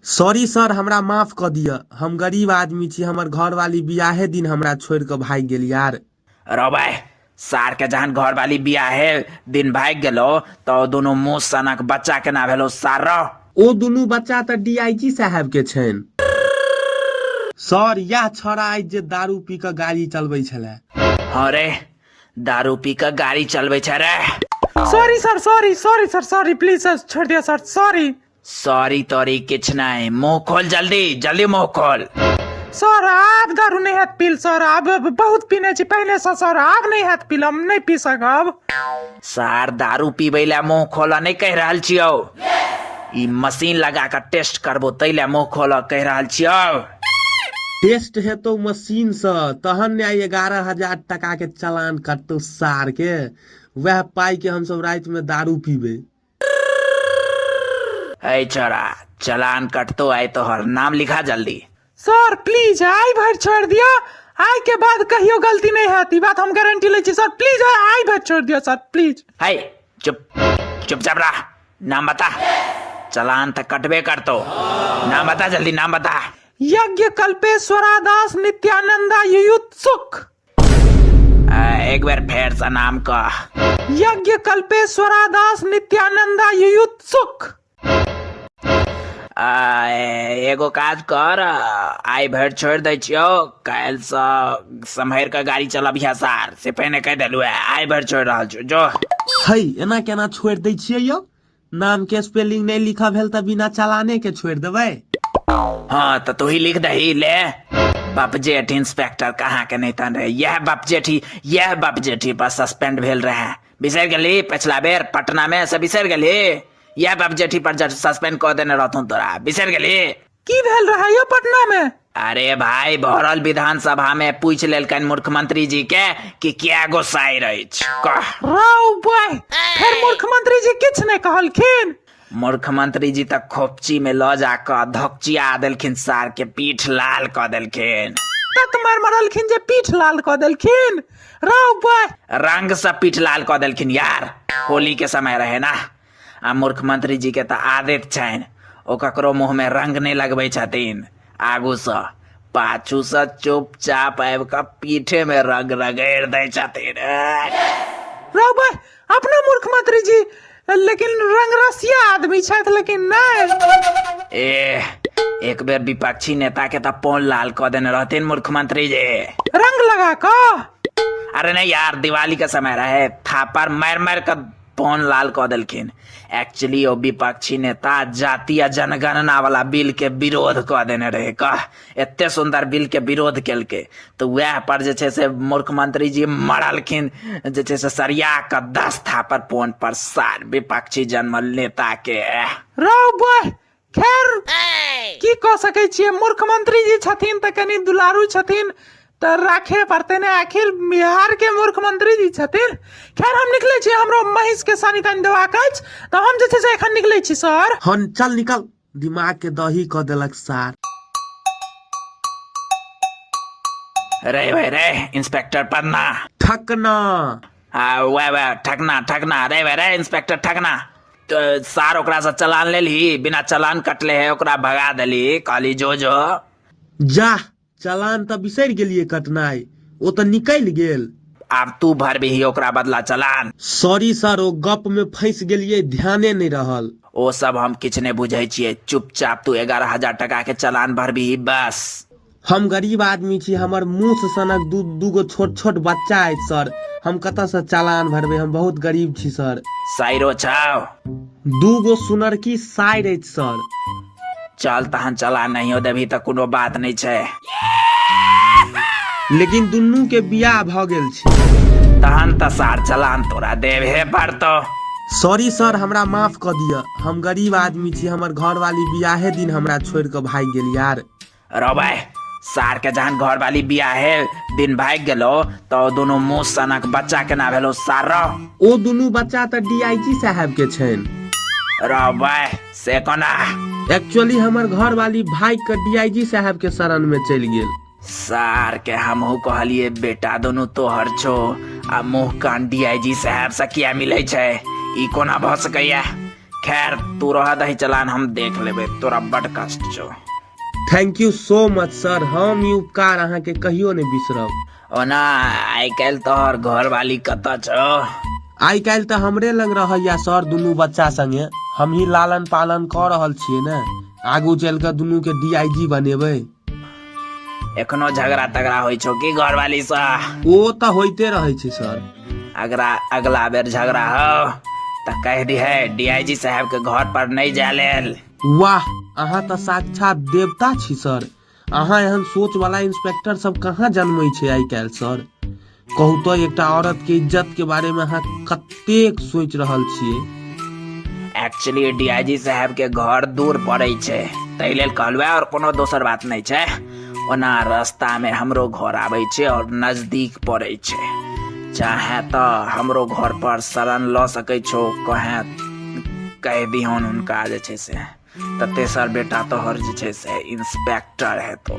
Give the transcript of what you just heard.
sorry sir हमरा माफ क दिअ हम गरीब आदमी छी हमर घरवाली बियाहे दिन हमरा छोड़ के भाग गेल यार रौबे सार के जहन घरवाली बियाहे दिन भाग गेलो तो दोनों मुंह सनक बच्चा के ना भेलो सार रो ओ दुनू बच्चा तऽ डीआईजी साहब के छनि सर यह छौड़ा अछि जे दारू पी कऽ गाड़ी चलबै छलै हाँ रे दारू पी के गाड़ी चलबे छै रे sorry sir sorry sorry sir sorry please sir छोड़ दिया सर सॉरी सॉरी तॉरी किछ नहीं मुंह खोल जल्दी जल्दी मुंह खोल सर आब दारू नहि हैत पील सर आब बहुत पीने छी पहिले से सर आब नहि हैत पील हम नहि पी सकब सार दारू पीबै ला मुंह खोलऽ नहि कहि रहल छियौ ई मशीन लगा कऽ टेस्ट करबो तै ला मुंह खोलऽ कहि रहल छियौ टेस्ट हेतौ मशीन से तहन ने आइ एगारह हजार टका के चालान कटतौ सार के वएह पाई के हमसब राति में दारू पीबे अय छोरा चलान कटतो आय तोहर नाम लिखा जल्दी सर प्लीज आइ भरि छोड़ि दिअ आइ के बाद कहियो गलती नहि हैत ई बात हम गारंटी लै छी सर प्लीज आइ भरि छोड़ि दिअ सर प्लीज है चुप चुपचाप रह नाम बता चलान तो कटबे करतो नाम बता जल्दी नाम बता यज्ञ कल्पेश्वरा दास नित्यानंदा युयुत्सुक एक बेर फेर से नाम कह यज्ञ कल्पेश्वरा दास नित्यानंदा युयुत्सुक एगो काज कर आइ भरि छोड़ि दै छियौ काल्हिसँ सम्हरि कऽ गाड़ी चलब सार से पहिने कहि देलहुँ आइ भरि छोड़ि रहल छियौ जो हई एना केना छोड़ि दै छियै यौ नाम के स्पेलिंग नहीं लिखा भेल तो बिना चलाने के छोड़ देवे हाँ तो तू ही लिख दही ले बाप जेठ इंस्पेक्टर कहाँ के नहीं तन रहे यह बाप जेठी यह बाप जेठी पर सस्पेंड भेल रहे बिसर गली पिछला बेर पटना में से बिसर गली यह बाप जेठी पर सस्पेंड कर देने रहतूं तोरा बिसर गली की भेल रहा यौ पटना में अरे भाई भरल विधानसभा में पूछ लेलकन मुख्यमंत्री जी के कि क्या गो साइर अछि कह राव बाय फिर मुख्यमंत्री जी किछ नहीं कहलखिन मुख्यमंत्री जी तक खोपची में ल जाकर धकचिया देलखिन सार के पीठ लाल क देलखिन तत मार मरलखिन जे पीठ लाल क देलखिन राव बाय रंग से पीठ लाल क देलखिन यार होली के समय रहे ना आ मूर्ख मंत्री जी के तऽ आदत छनि ओ ककरो मुँह में रंग नहि लगबै छथिन आगू सँ पाछू सँ चुपचाप आबि कऽ पीठे में रंग रगड़ि दै छथिन रौ भाय अपना मूर्ख मंत्री जी लेकिन रंग रसिया आदमी छथि लेकिन नहि ए एक बेर विपक्षी नेता के तऽ पोल लाल कऽ देने रहथिन मूर्ख मंत्री जी रंग लगा कऽ अरे नहीं यार दिवाली के समय रहे थापर मार मार कर पौन लाल कऽ देलखिन एक्चुअली ओ विपक्षी नेता जाति आ जनगणना वाला बिल के विरोध कऽ देने रहे कह एते सुंदर बिल के विरोध केलकै तऽ वएह पर जे छै से मुख्यमंत्री जी मरलखिन जे छै से सरिया कऽ दस थापर पौन पर सार विपक्षी जनमल नेता के रौ बह खैर की कऽ सकै छियै मुख्यमंत्री जी छथिन तऽ कनि दुलारू छथिन तऽ राखे पड़ते ने आखिर बिहार के मुख्यमंत्री जी छथिन खैर हम निकले छी हमरो महींस के सानी तानी देबाक अछि तऽ हम जे छै से एखन निकले छी सर हन चल निकल दिमाग के दही क देलक सार रे भाई रे इंस्पेक्टर पन्ना ठकना आ वएह वएह ठकना ठकना रे वह रे इंस्पेक्टर ठकना तो सार ओकरा से चलान ले ली बिना चलान कटले है ओकरा भगा देली कहली जो जो जा चलान तऽ बिसरि गेलियै कटनाइ ओ तऽ निकलि गेल आब तू भरबिही ओकरा बदला चलान सॉरी सर ओ गप में फंसि गेलियै ध्याने नहि रहल ओ सब हम किछु नहि बुझै छियै चुपचाप तू एगारह हजार टका के चलान भरबिही बस हम गरीब आदमी छी हमर मुँह से सनक दू दूगो छोट छोट बच्चा अछि सर हम कतऽ से चालान भरबै हम बहुत गरीब छी सर साइरो छाओ दूगो सुनरकी साइर अछि सर चल तहन चला नहियो देबही तऽ कोनो बात नहि छै लेकिन दुनू के बियाह भऽ गेल छै तहन तऽ सार चलान तोरा देबहे पड़तो सॉरी सर हमरा माफ कऽ दिअ हम गरीब आदमी छी हमर घरवाली बियाहे दिन हमरा छोड़ि कऽ भागि गेल यार रबे सार के जहन घर वाली बिया है दिन भाग गेलो तो दोनों मुंह सनक बच्चा के ना भेलो सार रो ओ दुनू बच्चा तऽ डीआईजी साहब के छनि रबे से कोना एक्चुअली हमर घर वाली भाग के डीआईजी साहब के शरण में चलि गेल सार के हमहू कहलिए बेटा दोनों तोहर छो आ मुंह कान डीआईजी साहब से किया मिले छै ई कोना भऽ सकैया खैर तू रह दही चलान हम देख लेबे तोरा बड कष्ट छो thank you so much sir हम ई उपकार अहाँके कहियो नहि बिसरब ओना आइ काल्हि तोहर घर वाली कतऽ छो आइ काल्हि तऽ हमरे लग रहैया सर दुनू बच्चा संगे हमही लालन पालन कऽ रहल छियै ने आगू चलि कऽ दुनू के डीआईजी बनेबै एखनो झगड़ा तगड़ा होइ छौ की घरवाली सा ओ तऽ होइते रहै छै सर अगला अगला बेर झगड़ा हो तऽ कह दिहे डीआईजी साहब के घर पर नहीं जाय लेल वाह अहाँ तऽ साक्षात देवता छी सर अहाँ एहन सोच वाला इंस्पेक्टर सब कहाँ जन्मै छै आइ काल्हि सर कहू तो एकटा औरत के इज्जत के बारे में अहाँ कतेक सोच रहल छिए एक्चुअली डीआईजी साहब के घर दूर पड़े छे ताहि लेल कहलहुँ और कोनो दोसर बात नहीं छे ओना रास्ता में हमरो घर आबे छे और नजदीक पड़े छे चाहे तो हमरो घर पर शरण ल सके छो कहे कह दिहन उनका जे छे से तऽ तेसर बेटा तोहर जे छै से इंस्पेक्टर हेतौ